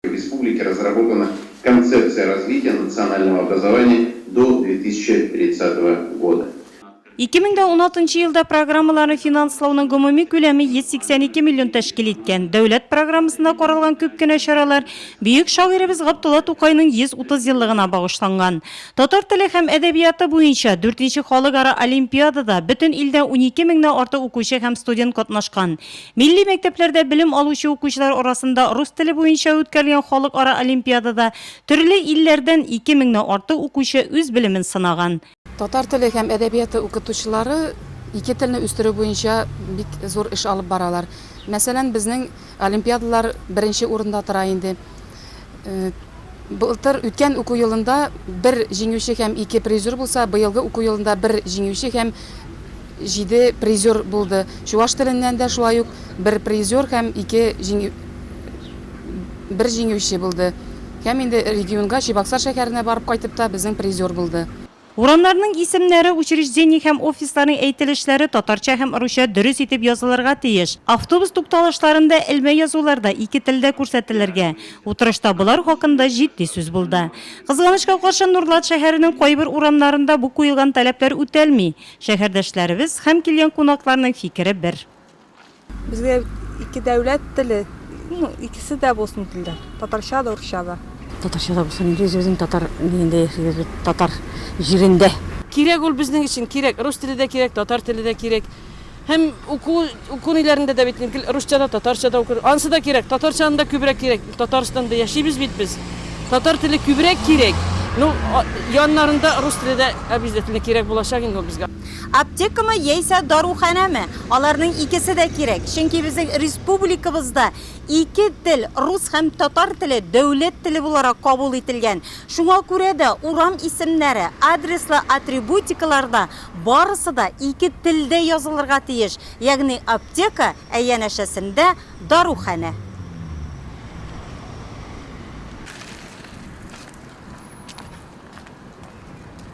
В республике разработана Концепция развития национального образования до 2030 года. Ике мең дә уналтынчы елда программаларны финанслауның гомуми күләме 182 миллион тәшкил иткән. Дәүләт программасында каралган күп кенә чаралар бөек шагыйребез Габдулла Тукайның 130 еллыгына багышланган. Татар теле һәм әдәбияты буенча дүртенче халыкара олимпиадада бөтен илдән унике меңнән артык укучы һәм студент катнашкан. Милли мәктәпләрдә белем алучы укучылар арасында рус теле буенча үткәрелгән халыкара олимпиадада төрле илләрдән ике меңнән артык укучы үз белемен сынаган. Татар теле һәм әдәбияты укытучылары ике телне үстерү буенча бик зур эш алып баралар. Мәсәлән, безнең олимпиадалар беренче урында тора инде. Былтыр үткән уку елында бер җиңүче һәм ике призер булса, быелгы уку елында бер җиңүче һәм җиде призер булды. Чуваш теленнән дә шулай ук бер призер һәм ике җиңү бер җиңүче булды. Һәм инде регионга, Чебоксар шәһәренә барып кайтып та безнең призер булды. Урамнарның исемнәре, учреждение һәм офисларның әйтелешләре татарча һәм русча дөрес итеп язылырга тиеш. Автобус тукталышларында элмә язулар да ике телдә күрсәтелергә. Утырышта болар хакында җитди сүз булды. Кызганычка каршы, Нурлат шәһәренең кайбер урамнарында бу куелган таләпләр үтәлми. Шәһәрдәшләребез һәм килгән кунакларның фикере бер. Безгә ике дәүләт теле, ну, икесе дә булсын телдә, татарча да, урысча да. Татарча да булсын, инде үзебезнең татар нигендә яшибез бит, татар җирендә. Кирәк ул безнең өчен, кирәк. Рус теле дә кирәк, татар теле дә кирәк. Һәм уку, уку ниләрендә дә бит гел русча да, татарча да укыр. Анысы да кирәк, татарчаны да күбрәк кирәк. Татарстанда яшибез бит без. Татар теле күбрәк кирәк. Ну, яннарында рус теле дә обязательно кирәк булачак инде ул безгә. Аптекамы яисә даруханәме? Аларның икесе дә кирәк, чөнки безнең республикабызда ике тел, рус һәм татар теле дәүләт теле буларак кабул ителгән. Шуңа күрә дә урам исемнәре, адреслы атрибутикаларда барысы да ике телдә язылырга тиеш, ягъни аптека, ә янәшәсендә, даруханә.